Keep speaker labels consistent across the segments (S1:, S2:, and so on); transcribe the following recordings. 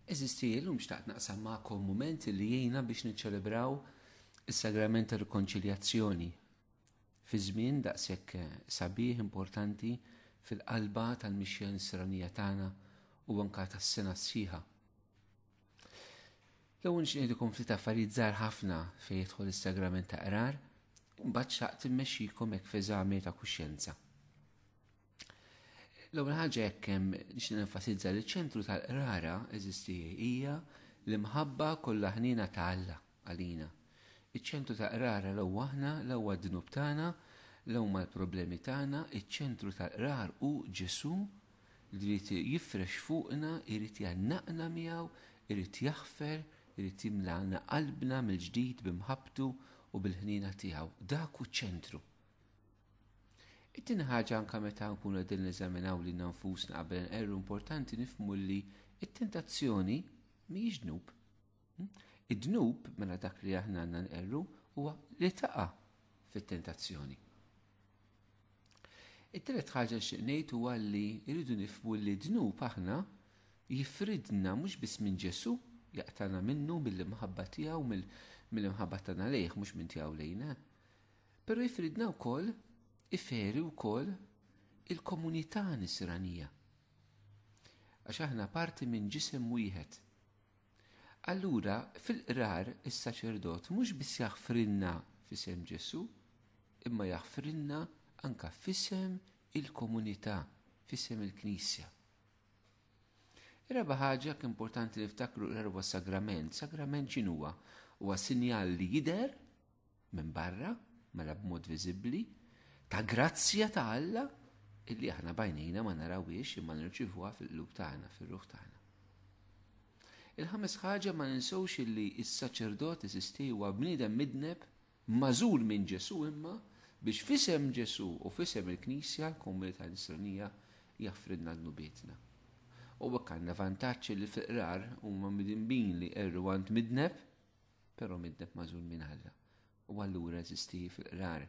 S1: Eżisti l-lum xtaqt naqsam ma'kom moment li jgħina biex niċċelebraw is-sagrament ta' rikonċiljazzjoni fi żmien daqshekk eh, sabiħ importanti fil-qalba tal-mixja nisranija tagħna u anka tas-sena sħiħa. L-ewwel nixtieqilkom ftit affarijiet żgħar ħafna fejn jidħol is-sagrament ta' qrar, imbagħad xaqt immexxikom hekk f'eżami ta' kuxjenza. L-ewwel ħaġa hekk hemm nix nenfasizza li ċ-ċentru tal-qrara eżisti hija l-imħabba kollha ħnina ta' Alla għalina. Iċ-ċentru ta' qrara l aħna l-ewwa d-dnub tagħna, l-ewma l-problemi tagħna, iċ-ċentru tal-qrar u Ġesu jrid jifrex fuqna, jrid jannaqna miegħu, jrid jaħfer, jrid jimlana qalbna mill-ġdid bimħabtu u bil-ħnina tiegħu. Dak u ċentru. It-tieni ħaġa anke meta nkunu qegħdin neżaminaw lilna nfusna qabel nqerru importanti nifhmu li t-tentazzjoni mhijiex dnub. Hm? Id-dnub mela dak li aħna għandna nqerru huwa li taqa' fit-tentazzjoni. It-tielet ħaġa xi ngħid huwa li rridu nifhmu li dnub aħna jifridna mhux biss minn Ġesu, jaqtana minnu mill-imħabba tiegħu mill-imħabba tagħna lejh mhux minn tiegħu lejna, Però jifridna wkoll iferi wkoll il-komunità nisranija. Għax aħna parti minn ġisem wieħed. Allura fil-qrar is-saċerdot mhux biss jaħfrinna f'isem Ġesu, imma jaħfrinna anka f'isem il-komunità, f'isem il-Knisja. Raba ħaġa importanti li ftakru l-erba sagrament, sagrament ċinuwa, huwa sinjal li jider Minn barra, mela b'mod viżibbli, ta' grazzja ta' Alla illi aħna bajnejna ma narawiex imma nirċivuha fil-qlub tagħna, fir-ruħ tagħna. Il-ħames ħaġa ma ninsewx illi s-saċerdot eżisti huwa bniedem midneb mażul minn Ġesu imma biex fisem Ġesu u fisem il-Knisja l-komunità nisranija jaffridna dnubietna. U hekk għandna vantaġġ li fil-qrar huma midinbin li erru għand midneb Però middeb mażul minn Alla. U allura eżisti fil-qrar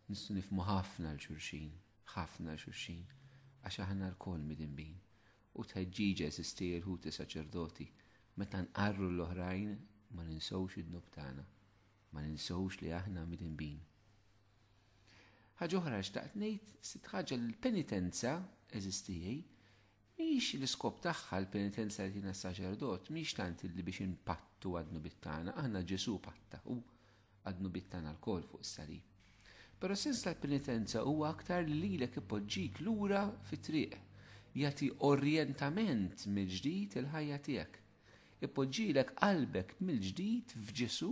S1: nistgħu nifmu ħafna l xulxin, ħafna l xulxin, għax aħna lkoll midinbin. U tħeġġiġa eżisti l-ħuti saċerdoti meta nqarru l-oħrajn ma ninsewx id-dnub tagħna, ma ninsewx li aħna midinbin. Ħaġa oħra xtaqt ngħid sit ħaġa l-penitenza eżistijaj Mhix l-iskop tagħha l-penitenza li tina s-saċerdot, mhix tant illi biex inpattu għad-dnubiet tagħna, aħna Ġesù patta hu għad-dnubiet tagħna lkoll fuq is-salib. Però sens tal-penitenza huwa aktar li lilek ipoġġik lura fit-triq, jagħti orjentament mill-ġdid il-ħajja tiegħek. Ipoġġilek qalbek mill-ġdid f'Ġesu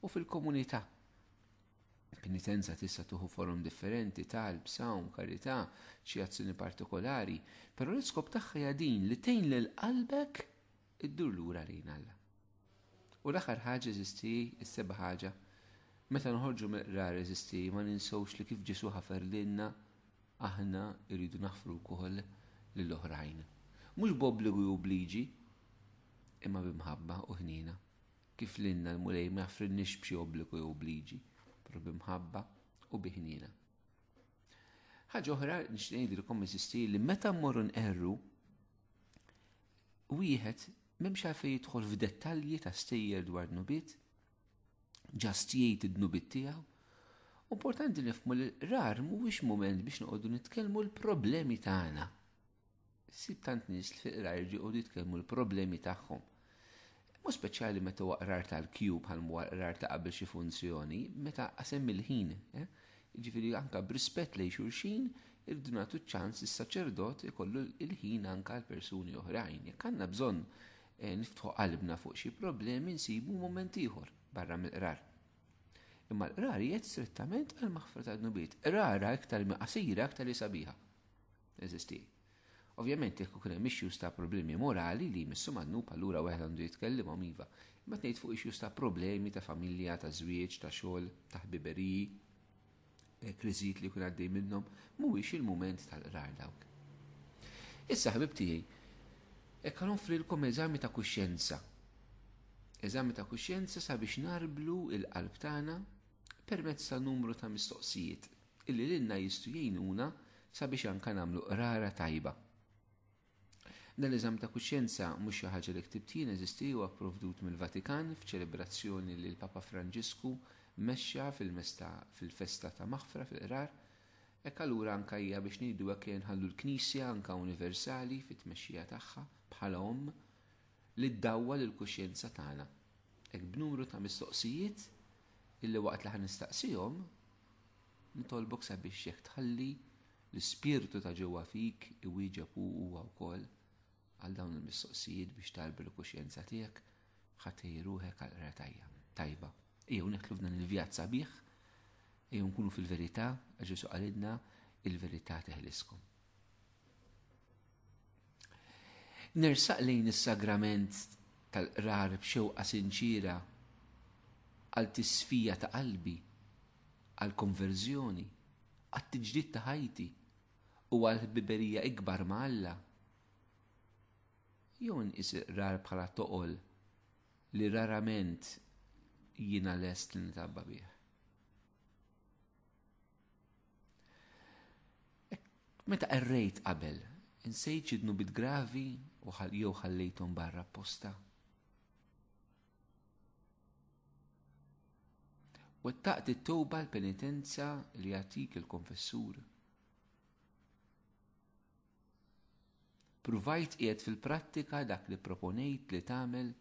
S1: u fil-komunità. Penitenza tista' tieħu forom differenti, talb, sawm, karità, xi azzjoni partikolari, però l-iskop tagħha hija din li tgħin lil qalbek iddur lura lejn Alla. U l-aħħar ħaġa eżisti, is-seba' ħaġa, meta nħorġu mill-qrar eżisti ma ninsewx li kif Ġesu ħafer lilna aħna irridu naħfru wkoll lil oħrajn. Mhux b'obbligu u bliġi, imma b'imħabba u ħnina. Kif lilna l-Mulej ma jaffrilniex b'xi obbligu jew b'liġi, però bi mħabba u bi ħniena. Ħaġa oħra nixtieq ngħidilkom eżisti li meta mmorru nqerru wieħed m'hemmx għalfejn jidħol f'dettalji ta' stejjer dwar nubiet, ġast jgħid id-nubiet tiegħu. Importanti nifmu li rar mhuwiex mument biex noqogħdu nitkellmu l-problemi tagħna. Sib tant nies li fiqra jirġiqu jitkellmu l-problemi tagħhom. Mu speċjali meta huwa qrar tal-kju bħal mu qrar ta' qabel xi funzjoni, meta qasem il-ħin. Eh? Ġifieri anka b'rispett lejn xulxin irdu nagħtu ċans is-saċerdot ikollu l-ħin anka għal persuni oħrajn. Jekk għandna bżonn eh, niftħu qalbna fuq xi problemi nsibu moment ieħor barra mill-qrar. Imma l-qrar jiet strettament għal maħfra ta' dnubiet. Qrara iktar mi qasira iktar li sabiħa. eżisti. Ovvjament jekk ikun hemm issues ta' problemi morali li jmissu man-nub allura wieħed għandu jitkellimhom iva. Imma tgħid fuq issues ta' problemi ta' familja, ta' żwieġ, ta' xogħol, ta' ħbiberiji, eh, kriżijiet li jkun għaddej minnhom, mhuwiex il-mument tal-qrar dawk. Issa ħbib tiegħi, hekk għal offrilkom eżami ta' kuxjenza. Eżami ta' kuxjenza sabiex narblu il-qalb tagħna permezz ta' numru ta' mistoqsijiet illi lilna jistgħu jgħinuna sabiex anke nagħmlu qrara tajba. Dan l-eżam ta' kuxjenza mhux xi ħaġa li ktibt jien eżisti huwa pprovdut mill-Vatikan f'ċelebrazzjoni li l-Papa Franġisku mexxa fil-mesta fil-festa ta' maħfra fil-qrar, hekk allura anke hija biex ngħidu hekk nħallu l-Knisja anke universali fit-tmexxija tagħha bħala omm li ddawwa lill-kuxjenza tagħna. Hekk b'numru ta' mistoqsijiet illi waqt li ħa nistaqsihom Nitolbok sabiex jekk tħalli l-ispirtu ta' ġewwa fik iwieġeb hu huwa wkoll għal dawn il-mistoqsijiet biex tarbi l-kuxjenza tiegħek ħadd ruħek għal qra tajja. Tajba. Ejjew neħtlu f'dan il-vjaġġ sabiħ, ejjew nkunu fil-verità, għax Ġesu qalidna il-verità teħliskom. Nersaq lejn is-sagrament tal-qrar b'xewqa sinċira għal tisfija ta' qalbi, għal konverżjoni, għat tiġdid ta' ħajti u għal ħbiberija ikbar ma' Alla. Jew nqis qrar bħala toqol li rarament jiena lest li nitabba bih. Meta qerrejt qabel, insejt xi dnubit gravi u jew ħallejthom barra apposta. Wettaqt it-towba l-penitenza li jagħtik il-konfessur. Pruvajt qiegħed fil-prattika dak li proponejt li tagħmel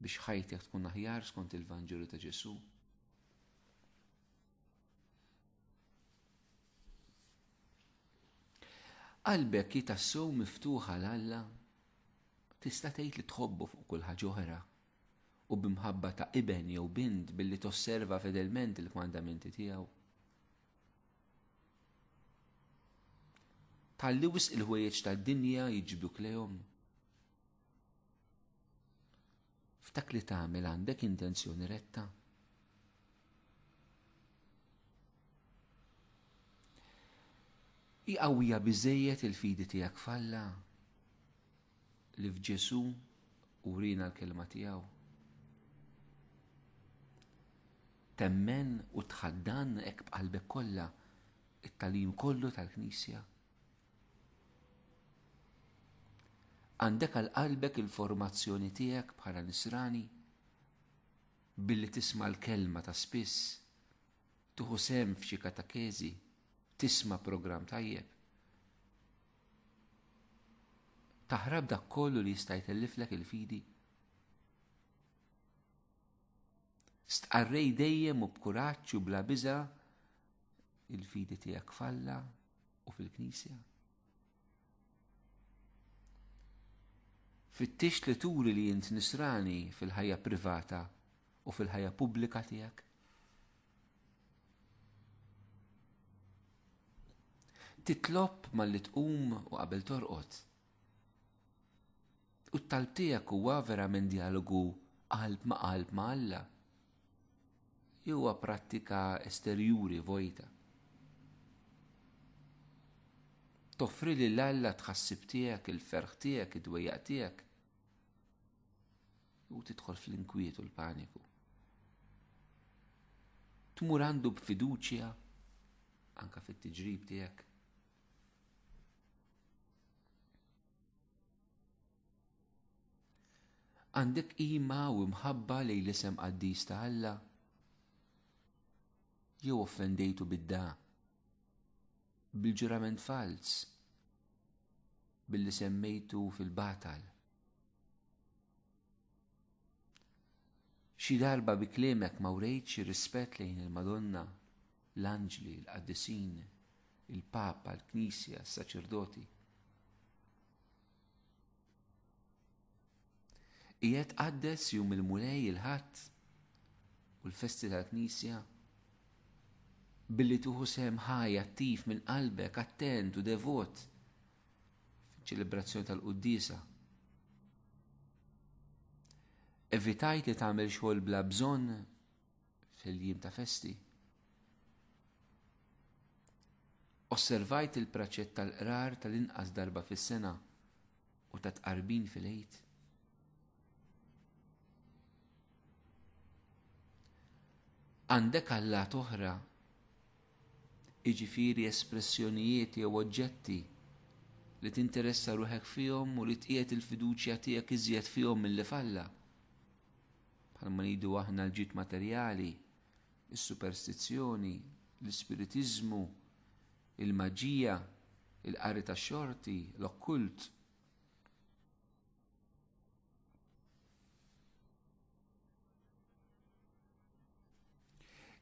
S1: biex ħajtek tkun aħjar skont il-Vanġelu ta' Ġesu. Qalbek hi tassew miftuħa l Alla tista' tgħid li tħobbu fuq kull ħaġa oħra u b'imħabba ta' iben jew bint billi tosserva fedelment il-kmandamenti tiegħu. Talli wisq il-ħwejjeġ tad-dinja jiġbduk lejhom. F'dak li tagħmel għandek intenzjoni retta? Hi qawwija biżejjed il-fidi tiegħek falla li f'Ġesu urina l-kelma tiegħu. Temmen u tħaddan hekk b'qalbek kollha it-talim kollu tal-Knisja Għandek għal qalbek il-formazzjoni tiegħek bħala nisrani? Billi tisma l-kelma ta' spiss, tuħu sem f'xi katakezi, tisma program tajjeb. Taħrab dak kollu li jista' jtelliflek il-fidi. Stqarrej dejjem u b'kuraġġ u bla biża il-fidi tiegħek falla u fil-Knisja. Fittix li turi li jint nisrani fil-ħajja privata u fil-ħajja pubblika tiegħek. Titlob mal-li tqum u qabel torqod U t-talb tiegħek huwa verament dialogu qalb ma' qalb ma' Alla. Jew huwa prattika esterjuri vojta. Toffri li l-Alla tħassib tiegħek, il-ferħ tiegħek, id-dwejjaq tiegħek. U tidħol fl-inkwiet u l-paniku. Tmur għandu b'fiduċja anka fit-tiġrib tiegħek Għandek qima u imħabba lejn l-isem qaddis ta' Alla? Jew offendejtu bid-da? Bil-ġurament falz? Billi semmejtu fil-batal? Xi darba bi kliemek ma wrejtx rispett lejn il-Madonna, l-anġli, l-qaddisin, il-Papa, l-Knisja, s-saċerdoti. Ijet qaddes jum il-mulej il-ħadd u l-festi tal-Knisja billi tuħu sem ħaj attiv minn qalbek attent u devot fil-ċelebrazzjoni tal-Quddisa. Evitajt li tagħmel xogħol bla bżonn fil-jiem ta' festi. Osservajt il-praċett tal-qrar tal-inqas darba fis-sena u ta' tqarbin fil-għid. Għandek għallat oħra jiġifieri espressjonijiet jew oġġetti li tinteressa ruħek fihom u li tqiegħed il-fiduċja tiegħek iżjed fihom milli f'Alla. Bħalma ngħidu aħna l-ġid materjali, is-superstizzjoni, l-ispiritiżmu, il-maġija, il-qari tax-xorti, l-okkult.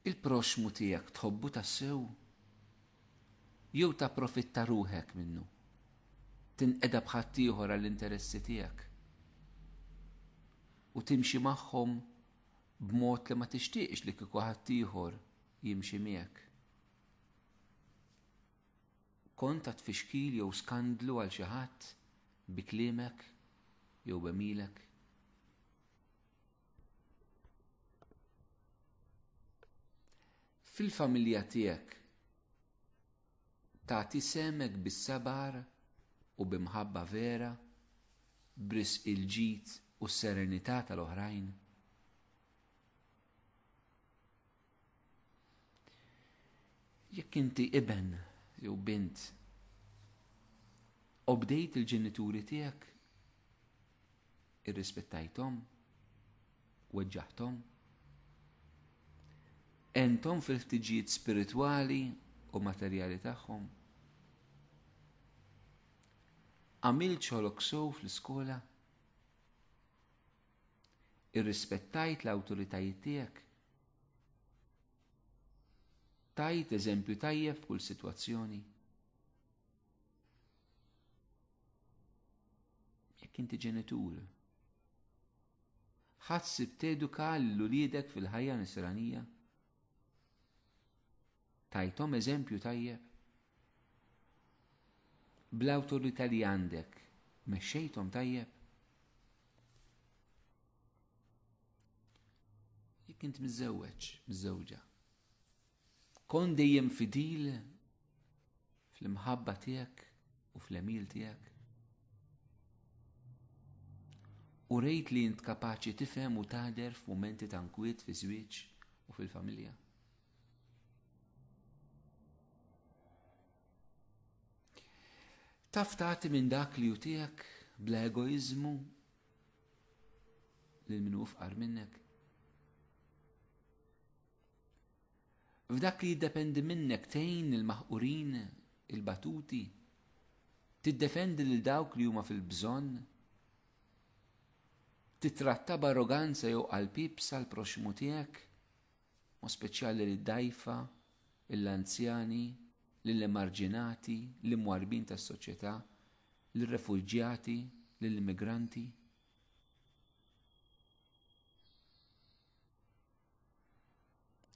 S1: Il-proxmu tiegħek tħobbu tassew? Jew ta' profitta ruħek minnu? Tinqeda bħadd ieħor għall-interessi tiegħek? U timxi magħhom b'mod li ma tixtieqx li kieku ħadd ieħor jimxi miegħek. Kont ta' tfixkil jew skandlu għal xi ħadd bi kliemek jew bemilek? Fil-familja tiegħek tagħti semek bis-sabar u b'imħabba vera, bris il-ġid u s-serenità tal-oħrajn. Jekk inti iben jew bint obdejt il-ġenituri tiegħek irrispettajthom, weġġaħthom, entom fil-ħtiġijiet spiritwali u materjali tagħhom. Għamil ċolok sow fl-iskola. Irrispettajt l-awtoritajiet tiegħek Tajt eżempju tajjeb f'kull sitwazzjoni. Jekk inti ġenitur, ħassib teduka l-uliedek fil-ħajja nisranija? Tajtom eżempju tajjeb? Bl-autorità li għandek, meċċejtom tajjeb? Jekk int miżewweġ, miżewġa. Kon dejjem fidil fl-imħabba tiegħek u fl-emil tiegħek. U rejt li int kapaċi tifhem u tader f'mumenti ta' nkwiet fi żwieġ u fil-familja. Taf tagħti minn dak li jutijak bla egoizmu lil min ufqar minnek. F'dak li jiddependi minnek tejn il-maħqurin, il-batuti, tiddefendi lil dawk li huma fil-bżonn, titratta b'arroganza jew qalbib sal-proxmu tiegħek, u speċjali li dajfa, l-anzjani, lill-emarġinati, l-imwarbin tas-soċjetà, lir-refuġjati, lill-immigranti.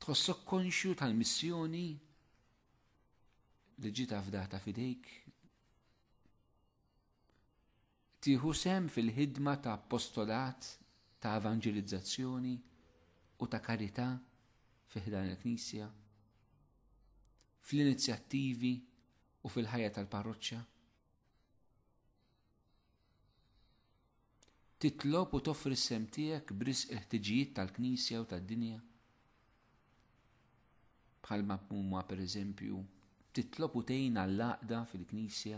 S1: Tħossok konxju tal-missjoni li ġiet fdata fidejk Tieħu sehem fil-ħidma ta' appostolat, ta' evanġelizzazzjoni u ta' karità fi ħdan il-Knisja, fl-inizjattivi u fil-ħajja tal-parroċċa. Titlob u toffri s-sem tiegħek bris il-ħtiġijiet tal-Knisja u tad-dinja. bħalma huma pereżempju titlob u tgħin għall-għaqda fil-knisja,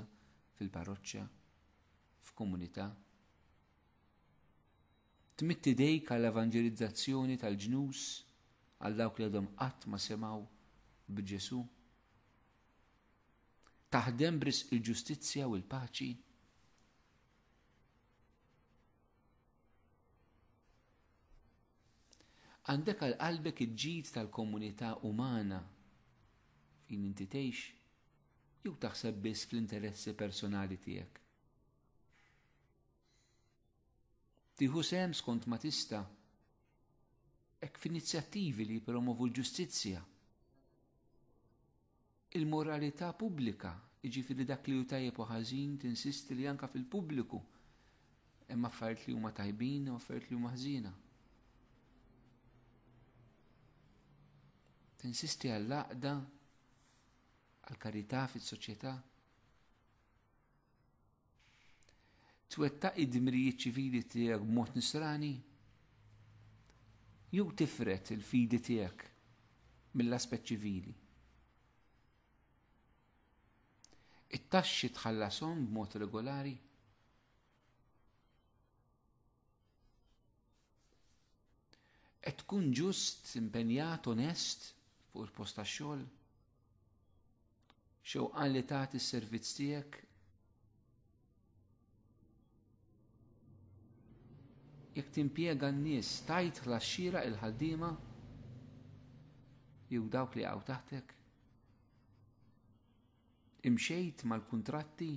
S1: fil-parroċċa, f'komunità. Tmitt idejk għall evanġelizzazzjoni tal-ġnus għal dawk li għadhom qatt ma semgħu b'Ġesu. Taħdem bris il-ġustizzja u l-paċi. Għandek għal qalbek il-ġid tal-komunità umana fejn inti tgħix jew taħseb biss fl-interessi personali tiegħek? Tieħu sehem skont ma tista' hekk f'inizjattivi li jippromovu l-ġustizzja. Il-moralità pubblika, jiġifieri dak li hu tajjeb u ħażin, tinsisti li anke fil-pubbliku hemm affarijiet li huma tajbin u affarijiet li huma ħżiena. Tinsisti għall-għaqda, għall-karità fis-soċjetà. Twettaq id-dmirijiet ċivili tiegħek b'mod nisrani? Jew tifred il-fidi tiegħek mill-aspett ċivili? It-taxxi tħallasom b'mod regolari? Qed tkun ġust, impenjat, onest fuq il-post tax-xogħol? Xewqan li tagħti s-servizz tiegħek? Jekk timpjega n-nies tajt ħlaxxira il-ħaddiema jew dawk li għaw taħtek? Imxejt mal-kuntratti?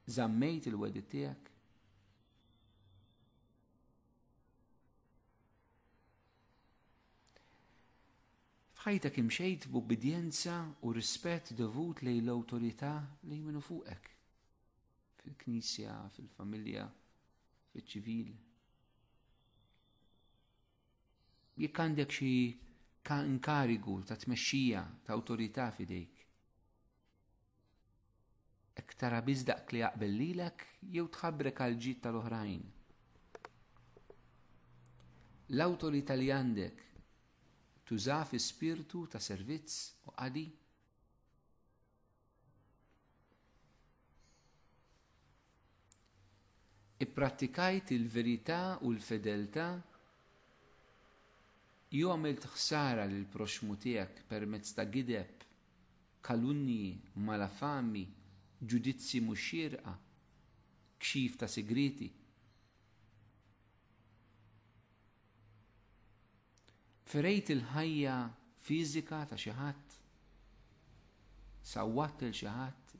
S1: Zammejt il-wedit tiegħek? F'ħajtek imxejt b'ubbidjenza u rispett dovut lej l-awtorità li jminu fuqek. Fil-knisja, fil-familja, fil-ċivil. Jekk għandek xi inkarigu ta' tmexxija ta' awtorità fidejk. Ek tara bizdaq li jaqbel lilek jew tħabbrek għal ġid tal-oħrajn. L-awtorità li għandek tuża fi spirtu ta' servizz u qadi Ipprattikajt il-verità u l-fedeltà jew għamilt ħsara lil proxxmu tiegħek permezz ta' gideb, kalunnji, malafami, ġudizzji mhux xierqa, kxif ta' sigrieti? Ferejt il-ħajja fiżika ta' xi ħadd? Sawwat lil xi ħadd?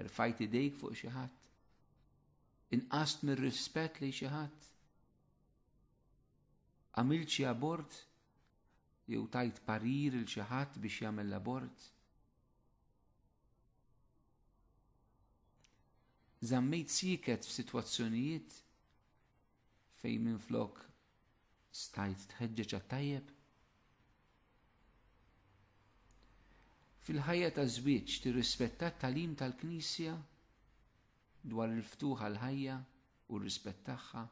S1: Erfajt idejk fuq xi ħadd? Inqast mir-rispett lejn xi ħadd? Għamilt xi abort? Jew tajt parir il xi ħadd biex jagħmel l-abort? Zammejt siket f'sitwazzjonijiet Fejn minflok stajt tħeġġeġ għat-tajjeb? Fil-ħajja ta' żwieġ tirrispetta t-talim tal-Knisja dwar il-ftuħ għal ħajja u r-rispett tagħha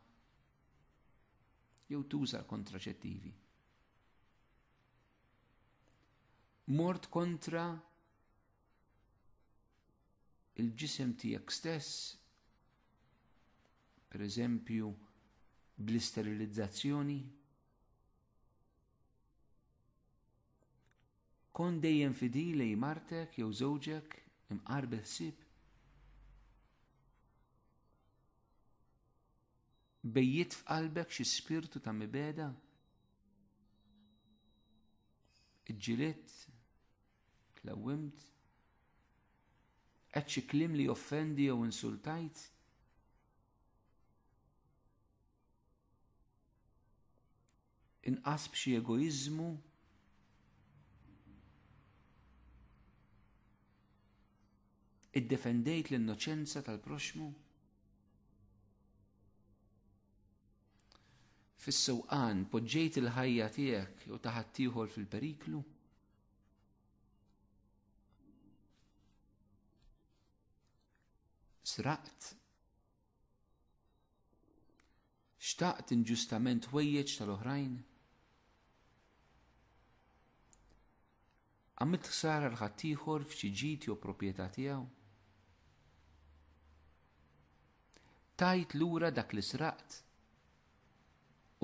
S1: jew tuża l-kontraċettivi. Mort kontra il-ġisem tiegħek stess, per eżempju, bl-isterilizzazzjoni, kon dejjem fidili martek jew żewġek imqarbe ħsieb. Bejjit f'qalbek xi spirtu ta' mibeda? Iġġiliet Tlewwimt? Qed xi kliem li offendi jew insultajt? Inqas b'xi egoiżmu? Iddefendejt l-innoċenza tal-proxmu? fis-sewqan poġġejt il-ħajja tiegħek u taħaddieħor fil-periklu? Sraqt. Xtaqt inġustament wejjeġ tal-oħrajn. Għamilt ħsara l-ħaddieħor f'xi ġid jew proprjetà tiegħu. Tajt lura dak li sraqt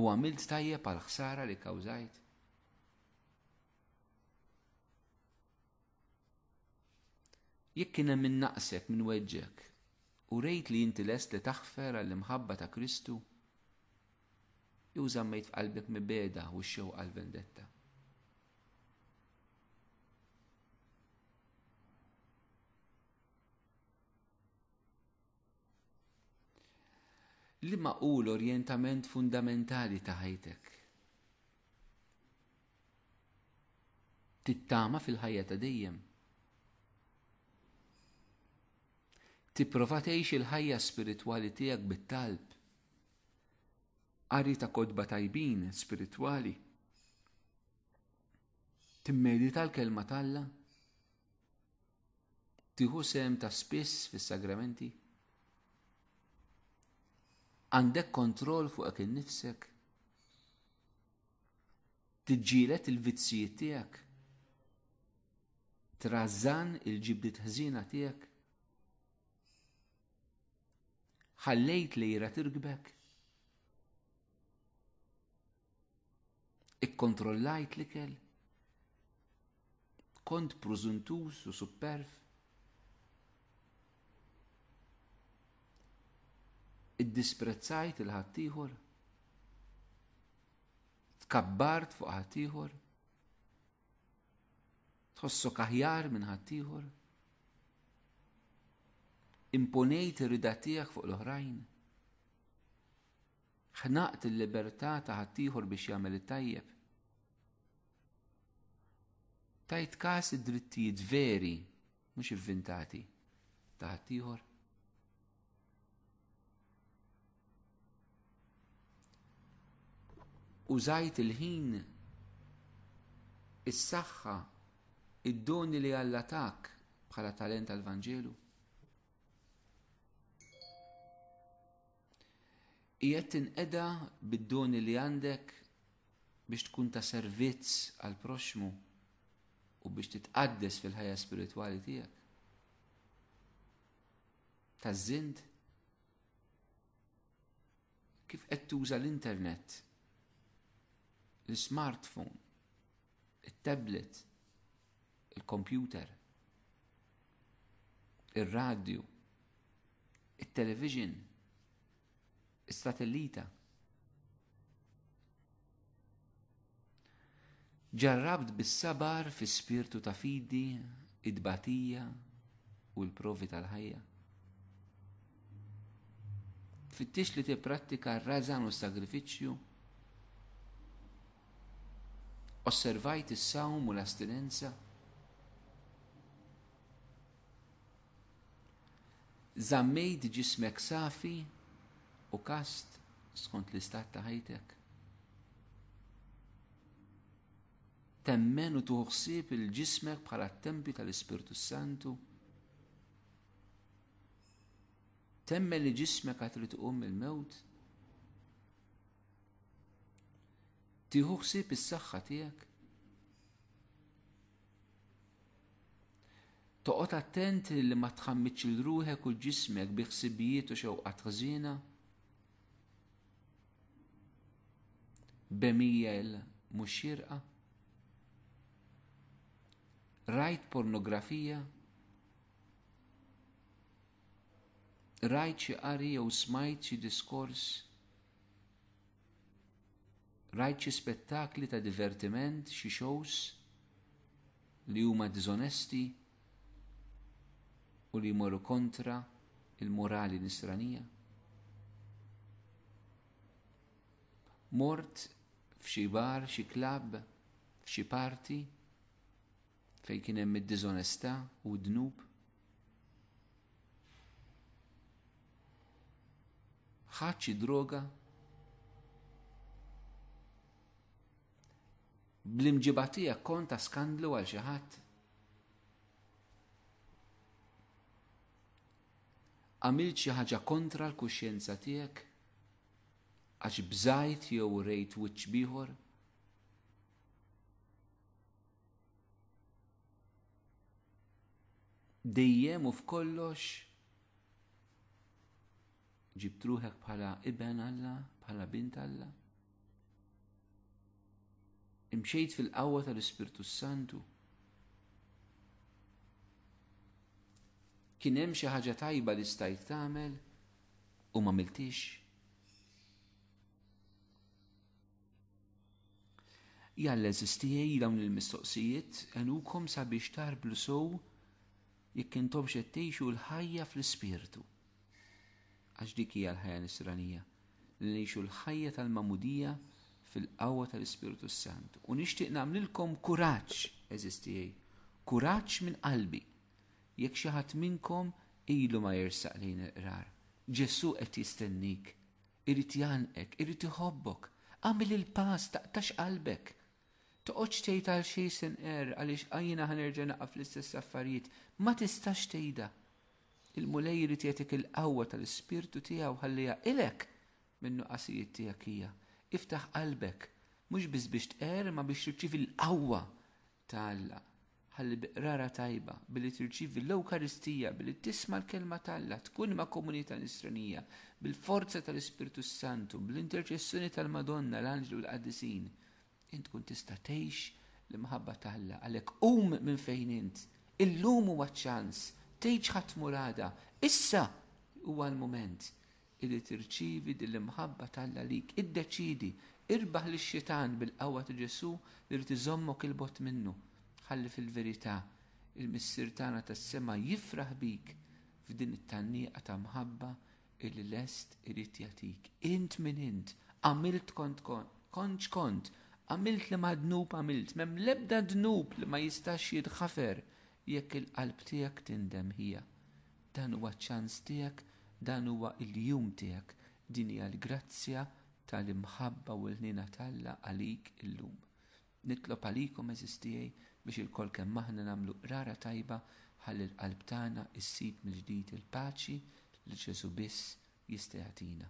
S1: u għamilt tajjeb għal ħsara li kawżajt. Jekk kien hemm innaqsek minn weġġek u rejt li inti lest li taħfer għall-imħabba ta' Kristu, jew żammejt f'qalbek mibeda u x-xewqa għal vendetta. Li ma hu l-orjentament fundamentali ta' ħajtek? Tittama fil-ħajja ta' dejjem. Tipprova tgħix il-ħajja spiritwali tiegħek bit-talb. Qari ta' kodba tajbin spiritwali. Timmedita l-kelma t'Alla. Tieħu sehem ta' spiss fis-sagramenti? Għandek kontroll fuqek innifsek? Tiġġielet il-vizzijiet tiegħek? Trażżan il-ġibdiet ħżina tiegħek? Ħallejt lejra tirkbek? Ikkontrollajt l-ikel? Kont prużuntuż u superf? Iddisprezzajt il-ħaddieħor? Tkabbart fuq ħaddieħor? Tħossok aħjar minn ħaddieħor? Imponejt ir-rida tiegħek fuq l-oħrajn? Ħnaqt il-libertà ta' ħaddieħor biex jagħmel it-tajjeb. Tajt każ id-drittijiet veri, mhux ivvintati, ta' ħaddieħor. Użajt il-ħin is-saħħa id-doni li Alla tak bħala talent tal-Vanġelu. Qiegħed tinqeda bid-doni li għandek biex tkun ta' servizz għal proxmu u biex titqaddes fil-ħajja spiritwali tiegħek. Tażżint kif qed tuża l-internet, l-smartphone, it-tablet, il-kompjuter, ir-radju, it-television, is-satellita. Ġarrabt bis-sabar fi spirtu ta' fidi, id-batija u l-provi tal-ħajja. Fittix li tipprattika r-razan u s-sagrifiċċju Osservajt is-sawm u l-astinenza? Zammejt ġismek safi u kast skont l-istat ta' ħajtek. Temmen u tuħsib il-ġismek bħala t-tempju tal-Ispirtu Santu. Temmen li ġismek għatri tqum il-mewt. Tieħu ħsieb is-saħħa tiegħek? Toqgħod attent li ma tħammitx il ruħek u ġismek bi ħsibijiet u xewqat ħżiena? Bemijel mhux xirqa? Rajt pornografija? Rajt xi qari jew smajt xi diskors? Rajt xi spettakli ta' divertiment, xi shows li huma diżonesti u li jmorru kontra il-morali nisranija? Mort f'xi bar, xi klabb, f'xi parti? Fejn kien hemm id-diżonestà u d-dnub? Ħadd droga? Bl-imġiba tiegħek kont ta' skandlu għal xi ħadd? għamilt xi ħaġa kontra l-kuxjenza tiegħek? Għax bżajt jew rejt wiċċ bieħor? dejjem u f'kollox ġibt ruħek bħala iben Alla, bħala bint Alla. Imxejt fil-qawwa tal-Ispirtu Santu. Kien hemm xi ħaġa tajba li stajt tagħmel u ma miltix. Jalla eżistijaj dawn il-mistoqsijiet enukom sabiex tarblu sow jekk intom qed tgħixu l-ħajja fl-ispirtu. Għax dik hija l-ħajja nisranija li ngħixu l-ħajja tal-mamudija fil-qawwa tal-Ispirtu s-Sant. U nixtieq nagħmlilkom kuraġġ eżistijaj, kuraġġ minn qalbi. Jekk xi ħadd minnkom ilu ma jersaq lejn il-qrar. Ġesu qed jistennik Irid jgħannqek, irid iħobbok. Agħmel il-pass, taqtax qalbek. Toqgħodx tgħid għal xi sinqer għaliex a jiena ħa nerġa' naqa' fl-istess affarijiet. Ma tistax tgħidha. Il-Mulej irid jagħtik il-qawwa tal-Ispirtu tiegħu ħalli jaqilek min-nuqqasijiet tiegħek hija. Iftaħ qalbek, mhux biss biex tqerr imma biex tirċievi l-qawwa ta' Alla, ħalli bi qrara tajba, billi tirċievi l-Ewkaristija, billi tisma' l-Kelma ta' Alla, tkun ma' komunità nisranija, bil-forza tal-Ispirtu s-Santu, bl-interċessjoni tal-Madonna, l-anġli u l-qaddisin, int tkun tista' tgħix l-imħabba ta' Alla. Għalhekk qum minn fejn int. Illum huwa ċ-ċans. Tgħidx ħa tmur għada. Issa huwa l-mument. Irid irċievi din l-imħabba t'Alla għalik. Iddeċiedi. Irbaħ lix-Xitan bil-qawwa ta' Ġesù li jrid iżommok 'il bogħod minnu. Ħalli fil-verità, il-Missier tagħna tas-sema jifraħ bik f'din it-tgħanniqa ta' mħabba illi lest irid jagħtik. Int min int, għamilt kont kont, kont x'kont, għamilt liema dnub għamilt, m'hemm l-ebda dnub li ma jistax jitħafer jekk il-qalb tiegħek tindem ħija. Dan huwa ċ-ċans tiegħek, dan huwa l-jum tiegħek, din hija l-grazzja tal-imħabba u l-ħniena t'Alla għalik illum. Nitlob għalikom għeżież tiegħi biex ilkoll kemm aħna nagħmlu qrara tajba ħalli l-qalb tagħna issib mill-ġdid il-paċi li Ġesù biss jista' jagħtina.